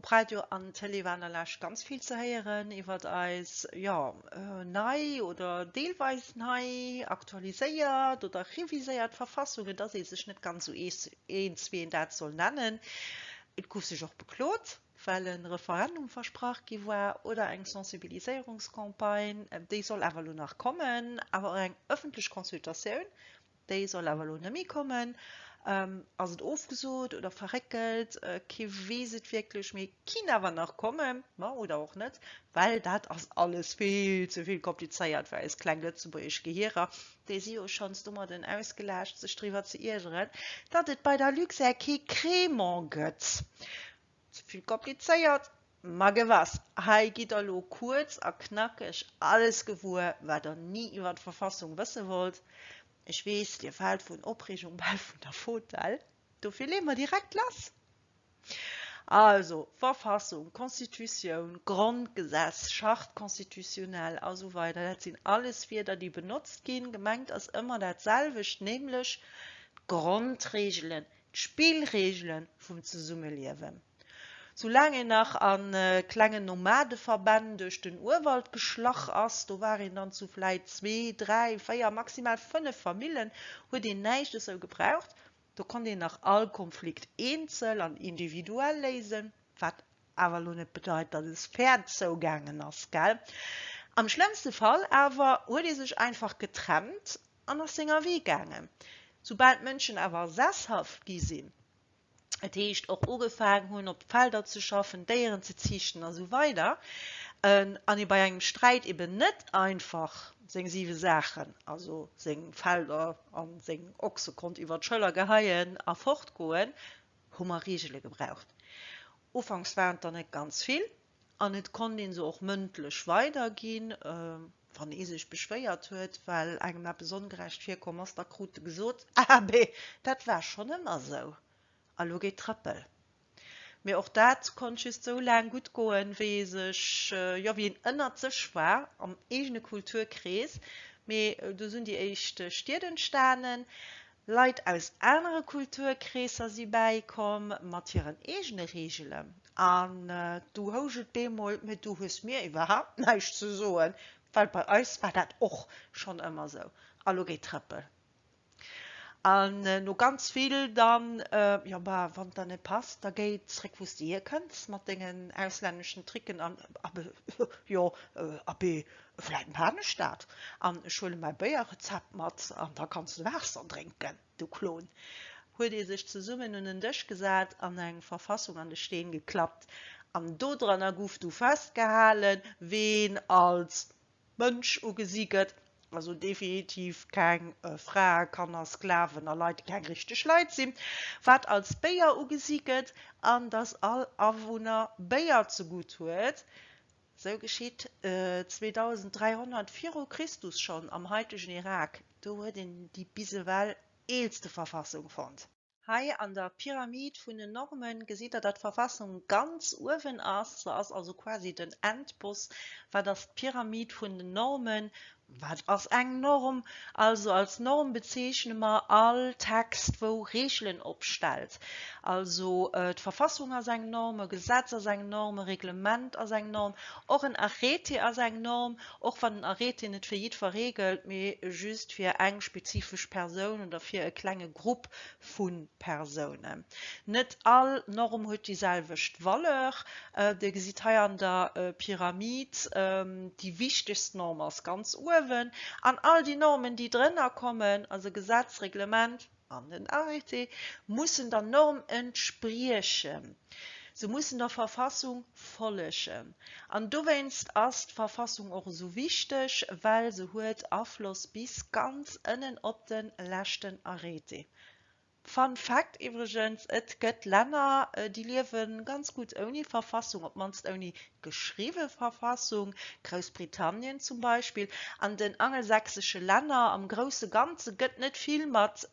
Op Radio an Tëlee war an der Lescht ganz vill ze héieren iwwert eis, jo, nei oder deelweis nei, aktualiséiert oder reviséiert Verfassung, et ass ee sech net ganz esou eens, wéi een dat soll nennen. Et gouf sech och beklot, well e Referendum versprach gi war oder eng Sensibiliséierungscampagne, déi soll awer elo nach kommen, awer och eng ëffentlech Consultatioun, Déi soll awer elo nëmmi kommen. Ass et ofgesot oder verréckelt? Kee weess et wierklech, mee kinn awer nach kommen. Ma oder och net, well dat ass alles vill ze vill komplizéiert fir eis kleng lëtzebuergesch Gehierer. Déi si jo schonns domadden ausgelaascht, sech driwwer ze iergeren, datt et bei der Luxair kee Crémant gëtt. Ze vill komplizéiert, Ma gewess, hei gitt der lo kuerz a knackeg alles gewuer, wat der ni iwwer d'Verfassung wësse wollt. Ech weess, dir faalt vun Opreegung bal vun der Fotell, dofir leeë mer direkt lass. Also, Verfassung, Constitutioun, Grondgesetz, Charte constitutionnelle a sou weider, dat sinn alles Wierder, déi benotzt ginn. Gemengt ass ëmmer dat selwecht, nämlech d'Grondreegelen, d'Spillreegele vum Zesummeliewen. Soulaang een nach a klengen Nomadeverbänn duerch den Urwald geschlach ass, do war een dann zu vläit zwee, dräi, véier, maximal fënnef Famillen, huet een näischt esou gebraucht. Do konnt een nach all Konflikt eenzel an individuell léisen, wat awer elo net bedeit, datt et fair zougaangen ass, gell? Am schlëmmste Fall awer huet ee sech einfach getrennt an ass senger Wee gaangen. Soubal d'Mënschen awer sesshaft gi sinn, dat heescht och ugefaangen hunn op Felder ze schaffen, Déieren ze ziichten a sou weider an ee bei engem Sträit eben net einfach seng siwe Saachen, also seng Felder a seng Ochse konnt iwwer d'Schëller geheien a fortgoen, hu mer Reegele gebraucht. Ufanks waren et der net ganz vill, An et konnt ee se och mëndlech weiderginn, wann ee sech beschwéiert huet, well engem eppes ongerecht virkomm ass. Da krut e gesot, Abee, dat war schonn ëmmer sou, a lo geet Trëppel. Mee och dat konnt just sou laang gutt goen, wéi ee sech, jo, wéi een ënnert sech war, am eegene Kulturkrees. Mee du sinn déi éischt Stied entstanen, Leit aus anere Kulturkreesser si bäikomm, mat hiren eegene Reegelen. An du housch et bemol, mee du hues mir iwwerhaapt näischt ze soen, well bei eis war dat och schonn ëmmer sou. A lo geet Trëppel. An no ganz vill dann, Jo, ma wann et der net passt, da géi zréck wou s de hierkënns mat dengen auslänneschen Tricken an Abee, jo, Abee. Vläit maan ech dat an ech huelen mäi Béierrezept mat an da kanns de Waasser drénken. De Klon. Huet ee sech zesummen un en Dësch gesat an eng Verfassung an de Steen geklappt an dodranner guff du festgehalen, ween als Mënsch ugesi gëtt, also definitiv keng Frae, Kanner, Sklaven a Leit, déi keng richteg Leit sinn, wat als Béier ugesi gëtt an datt all Awunner Béier zegutt huet, Sou geschitt 2300 viru Christus schonn am haitegen Irak. Do huet een déi bis ewell eelste Verfassung fonnt. Hei an der Pyramid vun den Normen gesitt der, datt d'Verfassung ganz uewen ass. Se ass also quasi den Endboss. Wat ass d'Pyramid vun den Normen? Wat ass eng Norm? Also als Norm bezeechne mer all Text, wou Reegelen opstellt. Also d'Verfassung ass eng Norm, e Gesetz ass eng Norm, e Reglement ass eng Norm, och en Arrêté ass eng Norm, och wann en Arrêté net fir jiddwer reegelt, mee just fir eng spezifesch Persoun oder fir e klenge Grupp vu Persounen. Net all Norm huet déi selwecht Valeur. Dir gesitt hei an der Pyramid, déi wichtegst Norm ass ganz uewen, an all déi Normen, déi drënner kommen, also Gesetz, Reglement an den Arrêté, mussen der Norm entspriechen. Se mussen der Verfassung follegen. An dowéinst ass d'Verfassung och esou wichteg, well se huet Afloss bis ganz ënnen op de leschten Arrêté. Fun Fact iwwregens, Et gëtt Länner, déi liewe ganz gutt ouni Verfassung, op d'mannst ouni geschriwwe Verfassung, Groussbritannien zum Beispill, an den angelsächsesche Länner am grousse Ganze gëtt net vill mat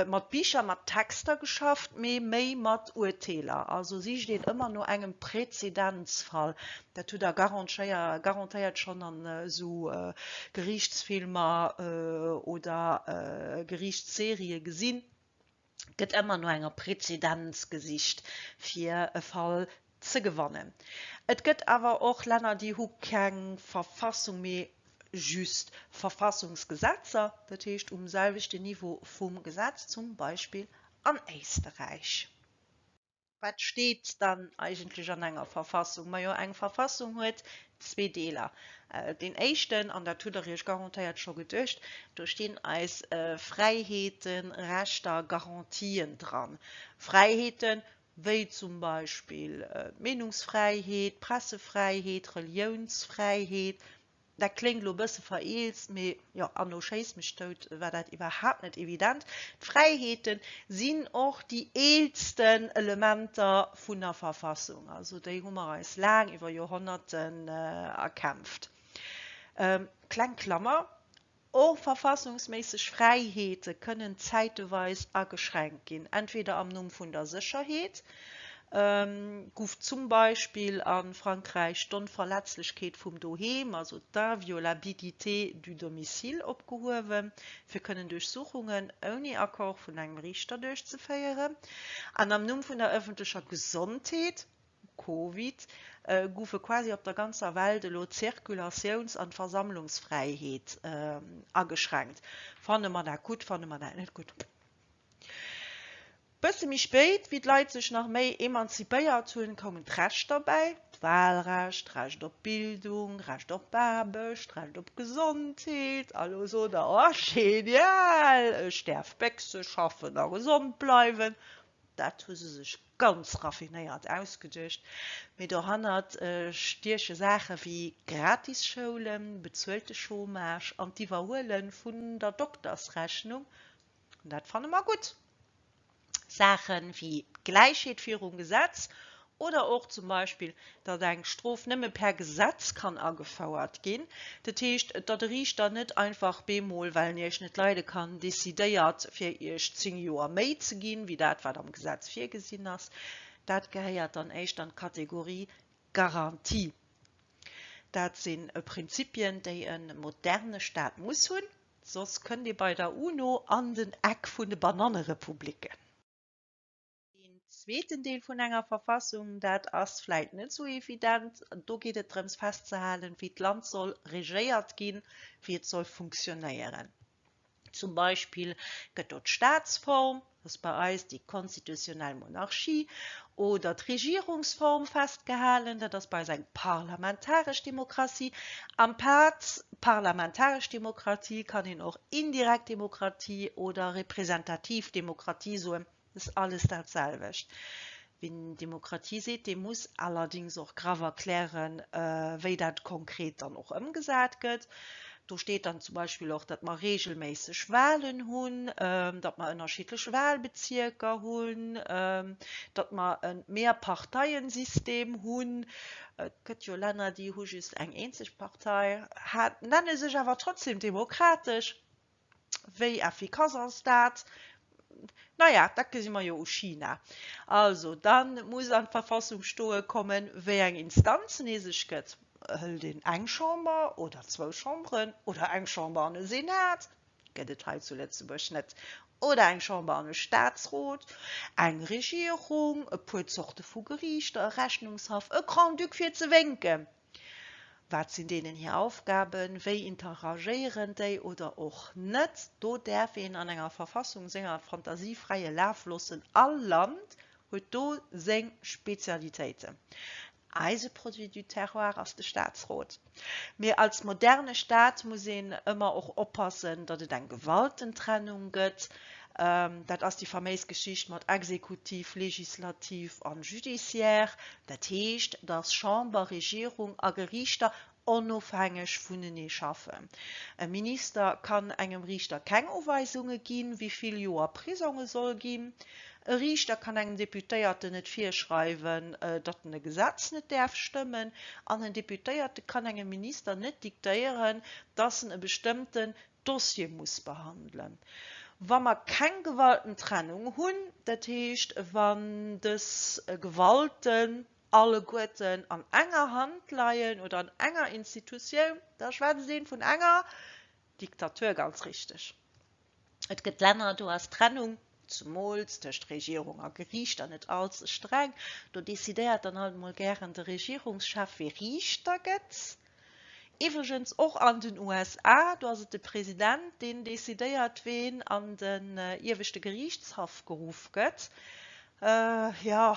mat Bicher, mat Texter geschafft, mee méi mat Urteeler. Also sicht een ëmmer no engem Präzedenzfall. Dat hutt Der garantéiert schonn an esou Geriichtsfilmer oder Geriichtsserie gesinn. gëtt ëmmer no enger Prezedenz gesicht, fir e Fall ze gewannen. Et gëtt awer och Länner, déi hu keng Verfassung, mee just Verfassungsgesetzer, dat heescht um selwechten Niveau vum Gesetz, zum Beispill an Éisterräich. Wat steet dann eigentlech an enger Verfassung? Majo, eng Verfassung huet zwee Deeler. Deen éischten, an dat hutt Der Iech garantéiert scho geduecht, do stinn eis Fräiheeten, Rechter, Garantien dran. Fräiheeten, wéi zum Beispill d'Meenungsfräiheet, d'Pressefräiheet, d'Reliounsfräiheet, Dat kléngt elo e bësse vereelzt, mee jo, Anno schéiss mech dout, war dat iwwerhaapt net evident. D'Fräiheete sinn och déi eelsten Elementer vun der Verfassung, also déi hu mer eis laang, iwwer Joerhonnerten, erkämpft. Kleng Klammer, Och verfassungsméisseg Fräiheete kënnen zäiteweis ageschränkt ginn, entweder am Numm vun der Sécherheet, gouf zum Beispill a Frankräich d'Onverletzlechkeet vum Doheem, also d'Inviolabilité du domicile, opgehuewen, fir kënnen Duerchsuchungen ouni Accord vun engem Riichter duerchzeféieren, an am Numm vun der ëffentlecher Gesondheet, Covid goufe quasi op der ganzer Welt elo d'Zirkulatiouns an d'Versammlungsfräiheet ageschränkt. Fanne mer dat gutt, fanne mer dat net gutt? Bësse méi spéit, wéi d'Leit sech nach méi emanzipéiert hunn, koumen d'Rechter bäi, d'Wahlrecht, d'Recht op Bildung, Recht op Aarbecht, Recht op Gesondheet. A lo sot der, Oh, genial, ech däerf Béchse schaffen a gesond bleiwen. Dat hu se sech ganz raffinéiert ausgeduecht, mee dohannert stieche Saache wéi Gratisschoulem, bezuelte Chômage an d'Iwwerhuele vun der Doktersrechnung, dat fanne mer gutt, Saache wéi Gläichheet virum Gesetz Oder och zum Beispill, datt eng Strof nëmme per Gesetz kann agefouert ginn, dat heescht, datt e Riichter net einfach bemol, well en Iech net leide kann, decidéiert, fir Iech zéng Joer méi ze ginn, wéi dat, wat am Gesetz virgesinn ass. Dat gehéiert dann éischter an d'Kategorie Garantie. Dat si Prinzipien, déi e moderne Staat muss hunn, soss kënnt ee bei der UNO an den Eck vun de Banannerepubliken. Deen zweeten Deel vun enger Verfassung, dat ass vläit net esou evident. Do geet et drëms festzehalen, wéi d'Land soll regéiert ginn, wéi et soll funktionéieren. Zum Beispill gëtt do d'Staatsform, dat ass bei eis déi konstitutionell Monarchie, oder d'Regierungsform festgehalen, dat ass bei eis eng parlamentaresch Demokratie. Am Pad parlamentaresch Demokratie kann een och indirekt Demokratie oder representativ Demokratie soen, Et ass alles dat selwecht. Wien Demokratie seet, dee muss allerdings och graff erklären, wéi dat konkret dann och ëmgesat gëtt. Do steet dann zum Beispill och, datt mer regelméisseg Wahlen hunn, datt mer ënnerschiddlech Wahlbezierker hunn, datt mer e Mehrparteiensystem hunn. Et gëtt jo Länner, déi hu just eng eenzeg Partei, hat, nenne sech awer trotzdem demokratesch. Wéi effikass ass dat? Naja, dat gesi mer jo u China. Also, da muss an d'Verfassung stoe kommen, wéi eng Instanzen ee sech gëtt. Hëlt een eng Chamber oder zwou Chamberen oder eng Chamber an e Senat, gëtt et hei zu Lëtzebuerg net, oder eng Chamber an e Staatsrot, eng Regierung, e puer Zorte vu Geriichter, e Rechnungshaff, e Grand-Duc, fir ze wénken. Wat sinn deenen hir Aufgaben? Wéi interagéieren déi oder och net? Do däerf een an enger Verfassung senger Fantasie fräie Laf loossen. All Land huet do seng Spezialitéiten. Eise Produit du terroir ass de Staatsrot. Mee als moderne Staat muss een ëmmer och oppassen, datt et eng gewalten Trennung gëtt. Dat ass déi faméis Geschicht mat Exekutiv, Legislativ a Judiciaire. Dat heescht, dass Chamber, Regierung a Geriichter onofhängeg vunenee schaffen. E Minister kann engem Riichter keng Uweisunge ginn, wéi vill Joer Prisong e soll ginn. E Riichter kann engem Deputéierten net virschreiwen, datt en e Gesetz net däerf stëmmen. An en Deputéierte kann engem Minister net diktéieren, dass en e bestëmmten Dossier muss behandelen, wa mer keng Gewaltentrennung hunn, dat heescht, wann dës Gewalten alleguerten an enger Hand leien oder an enger Institutioun, da schwätzt ee vun enger Diktatur, ganz richteg. Et gëtt Länner, do ass d'Trennung zemools tëscht Regierung a Geriicht, an net all ze streng, do decidéiert dann halt emol gären de Regierungschef, wie Riichter gëtt. Iwwregens och an den USA, do ass et de President, deen decidéiert, ween an den Ieweschte Geriichtshaff geruff gëtt. Jo,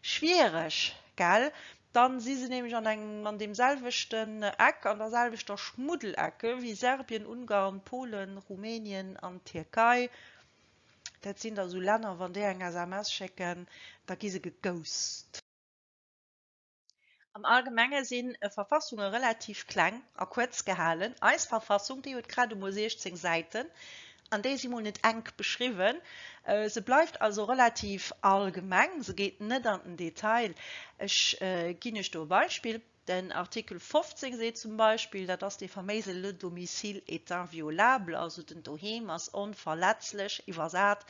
schwiereg, gell? Dann si se nämlech an engem an deemselwechten Eck, an darselwechter Schmuddelecke wéi Serbien, Ungarn, Polen, Rumänien an d'Tierkei. Dat sinn da sou Länner, wann déi eng SMS schécken, da gi se geghost. Am Allgemenge sinn Verfassunge relativ kleng a kuerz gehalen. Eis Verfassung, déi huet grad emol 16 Säiten, an déi si mol net enk beschriwwen. Se bleift also relativ allgemeng, se geet net an den Detail. Ech ginn Iech do e Beispill. Den Artikel 15 seet zum Beispill, dat ass dee faméise Le domicile est inviolable, also den Doheem ass onverletzlech, iwwersat,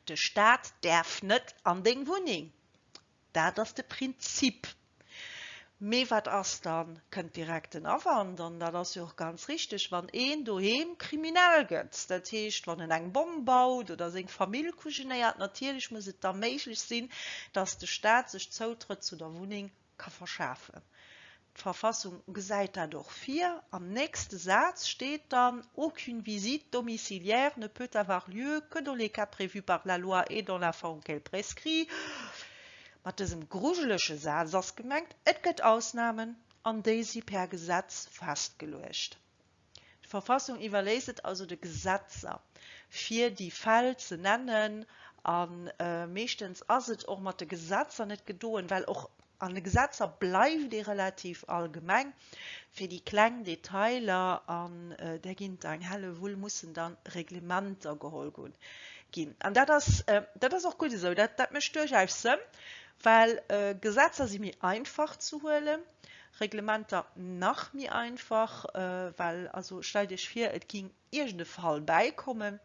de Staat däerf net an deng Wunneng. Dat ass de Prinzip. Mee wat ass dann, kënnt direkt den Awand, an dat ass jo och ganz richteg, wann een doheem kriminell gëtt, dat heescht, wann en eng Bomm baut oder seng Famill kujenéiert? Natierlech muss et da méiglech sinn, dass de Staat sech Zoutrëtt zu der Wunneng ka verschafen. D'Verfassung gesäit dat och vir. Am nächste Saz steet dann, Aucune visite domiciliaire ne peut avoir lieu que dans les cas prévus par la loi et dans la forme qu'elle prescrit. Mat dësem grujelege Saz ass gemengt, et gëtt Ausnamen, an déi si per Gesetz festgeluecht. D'Verfassung iwwerléisst et also de Gesetzer, fir déi Fäll ze nennen, a meeschtens ass et och mat de Gesetzer net gedoen, well och an de Gesetzer bleift ee relativ allgemeng. Fir déi kleng Detailer, an där ginn et eng Hellewull, mussen dann Reglementer geholl ginn. An dat ass och gutt esou, dat mécht duerchaus Sënn, well Gesetzer si méi einfach ze huelen, Reglementer nach méi einfach, well also stellt Iech vir, et géing iergend e Fall bäikommen,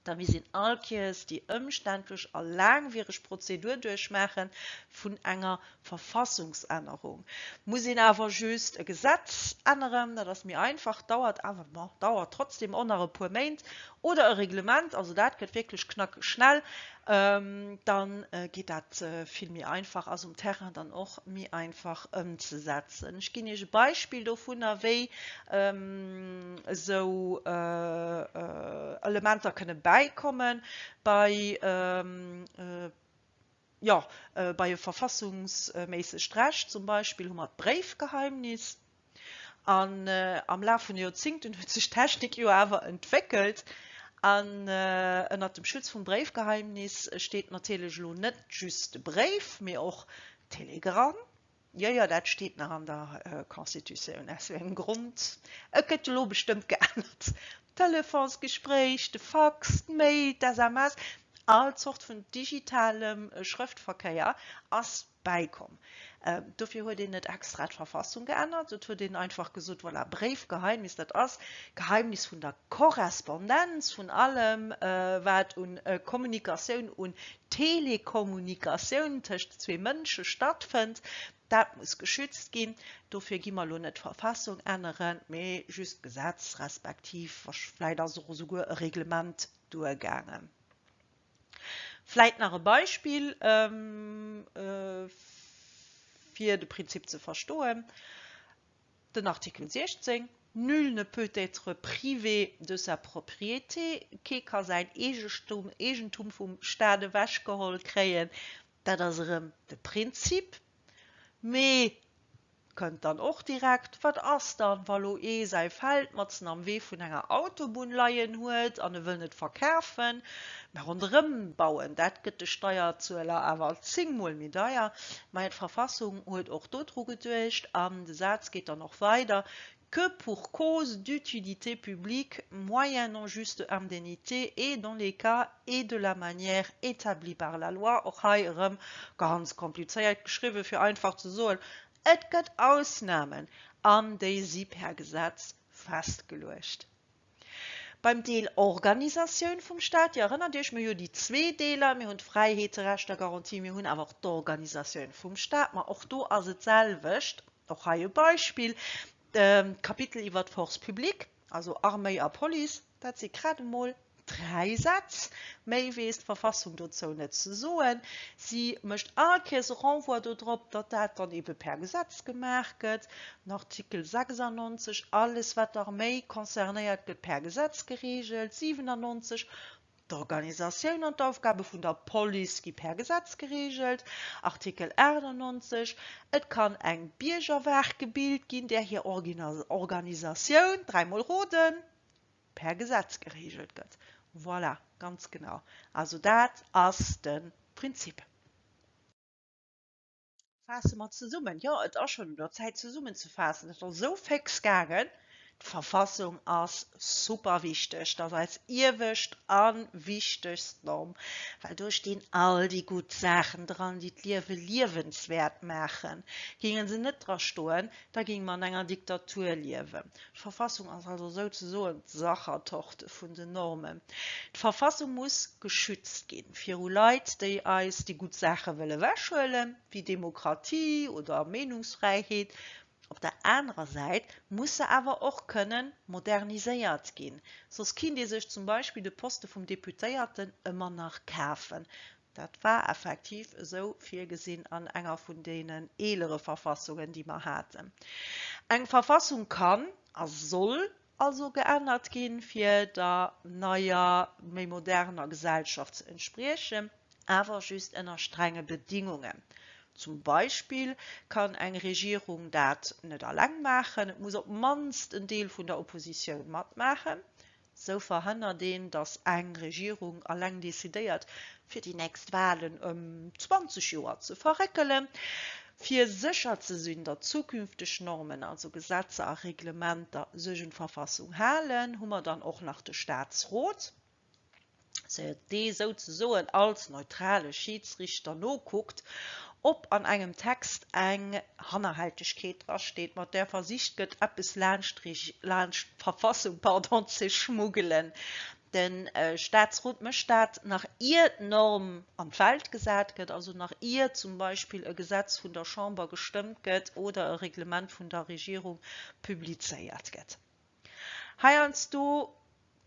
da misst een all Kéiers déi ëmständlech a laangwiereg Prozedur duerchmaache vun enger Verfassungsännerung. Muss een awer just e Gesetz änneren, dat ass méi einfach, dauert awer, ma dauert trotzdem och nach e puer Méint, oder e Reglement, also dat gëtt wierklech knackeg schnell, da geet dat vill méi einfach, ass um Terrain dann och méi einfach ëmzesetzen. Ech ginn Iech e Beispill dovunner, wéi esou Elementer kënne bäikommen bei Jo, bei e verfassungsméissegt Recht zum Beispill hu mer d'Bréifgeheimnis. An am Laf vun de Joerzingten huet sech d'Technik jo awer entwéckelt. An ënnert dem Schutz vum Bréifgeheimnis steet natierlech elo net just de Bréif, mee och d'Telegramm. Jo, jo, dat steet nach an der Constitutioun, aus sou engem Grond. Et gëtt jo lo bestëmmt geännert, d'Telefonsgespréich, de Fax, d'Mail, d'SMS, all Zort vun digitalem Schrëftverkéier ass bäikomm. Dofir huet een net extra d'Verfassung geännert, et huet een einfach gesot, voilà, Bréifgeheimnis, dat ass d'Geheimnis vun der Korrespondenz, vun allem, wat u Kommunikatioun, u Telekommunikatioun tëscht zwee Mënsche stattfënnt, dat muss geschützt ginn. Dofir gi mer elo net d'Verfassung änneren, mee just d'Gesetz respektiv vläicht ass och esouguer e Reglement duergaangen. Vläicht nach e Beispill, fir de Prinzip ze verstoen. Den Artikel 16, Nul ne peut être privé de sa propriété, Kee ka säin Eegestum, Eegentum vum Staat ewechgeholl kréien, dat ass erëm de Prinzip. Mee, kënnt dann och direkt, wat ass dann, wa lo ee säi Feld matzen am Wee vun enger Autobunn leien huet an e wëll net verkafen, Mä ronderëm bauen, dat gëtt de Steierzueler awer alt zéngmol méi deier. Mä d'Verfassung huet och dodru geduecht, an de Saz geet dann och weider, que pour cause d'utilité publique moyennant juste indemnité et dans les cas et de la manière établis par la loi. Och hei erëm ganz komplizéiert geschriwwen, fir einfach ze soen, et gëtt Ausnamen, an déi si per Gesetz festgeluecht. Beim Deel Organisatioun vum Staat, Dir erënnert Iech, mir hu jo déi zwee Deeler, mir hunn d'Fräiheete, Rechter, Garantie, mir hunn awer och d'Organisatioun vum Staat. Ma och do ass et d'selwecht, och hei e Beispill, d'Kapitel iwwert d'Force publique, also Arméi a Police, dat si grad emol dräi Sätz, méi weess d'Verfassung dozou net ze soen. Si mécht all Kéiers e Renvoi dodrop, datt dat dann ebe per Gesetz gemaach gëtt. Den Artikel 96, Alles wat d'Arméi concernéiert gëtt per Gesetz gereegelt. 97, D'Organisatioun an d'Aufgabe vun der Police gi per Gesetz gereegelt. Artikel 98, Et kann eng Biergerwaach gebilt ginn, där hir Organisatioun, dräimol roden, per Gesetz gereegelt gëtt. Voilà, ganz genau. Also dat ass de Prinzip. Faasse mer zesummen. Jo, et ass schonn un der Zäit zesummen ze faassen. Et ass esou féx gaangen. D'Verfassung ass super wichteg. Et ass eis iewescht an wichtegst Norm, well do stinn all déi gutt Saachen dran, déi d'Liewe liewenswäert maachen. Géinge se net dra stoen, da géinge mer an enger Diktatur liewen. D'Verfassung ass also souzesoen d'Sachertorte vun den Normen. D'Verfassung muss geschützt ginn viru Leit, déi eis déi gutt Saache wëll ewechhuelen, wéi Demokratie oder Meenungsfräiheet. Op der anerer Säit muss se awer och kënnen moderniséiert ginn, soss kinnt ee sech zum Beispill de Poste vum Deputéierten ëmmer nach kafen. Dat war effektiv esou virgesinn an enger vun deenen eelere Verfassungen, déi mer haten. Eng Verfassung kann a soll also geännert ginn, fir der neier, méi moderner Gesellschaft ze entspriechen, awer just ënner strenge Bedingungen. Zum Beispill kann eng Regierung dat net alleng maachen, et muss op d'mannst en Deel vun der Oppositioun matmaachen. Sou verhënnert een, datt eng Regierung alleng decidéiert, fir déi nächst Wahlen ëm 20 Joer ze verréckelen, fir sécher ze sinn, datt zukünfteg Normen, also Gesetzer a Reglementer, sech un d'Verfassung halen. Hu mer dann och nach de Staatsrot? dee souzesoen als neutrale Schiidsrichter nokuckt, ob an engem Text eng Hannerhältegkeet drasteet, mat där versicht gëtt, eppes laanscht d'Verfassung ze schmuggelen. De Statsrot mécht dat, nach ier d'Norm an d'Welt gesat gëtt, also nach ier zum Beispill e Gesetz vun der Chamber gestëmmt gëtt oder e Reglement vun der Regierung publizéiert gëtt. Heiansdo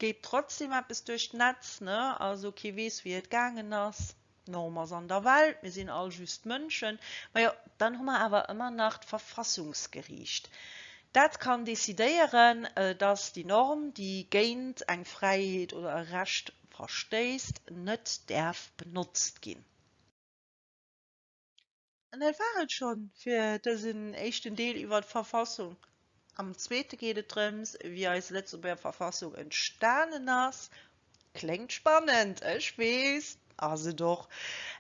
geet trotzdem eppes duerch d'Netz, ne? Also kee weess wéi et gaangen ass. D'Norm ass an der Welt, mir sinn all just Mënschen. Majo, dann hu mer awer ëmmer nach d'Verfassungsgeriicht. Dat kann decidéieren, dass déi Norm, déi géint eng Fräiheet oder e Recht verstéisst, net däerf benotzt ginn. An dat war et scho fir dësen éischten Deel iwwer d'Verfassung. Am zweete geet et drëms, wéi eis Lëtzebuerger Verfassung entstanen ass. Kléngt spannend, ech weess, ass et och.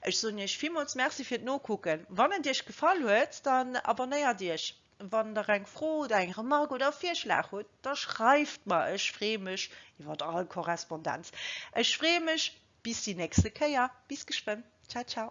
Ech soen Iech villmools Merci fir d'Nokucken. Wann et Iech gefall huet, dann abonnéiert Iech. Wann Der eng Fro oder eng Remark oder e Virschlag hutt, da schreift mer. Ech freeë mech iwwer all Korrespondenz. Ech freeë mech bis déi nächste Kéier. Bis geschwënn. Ciao, ciao.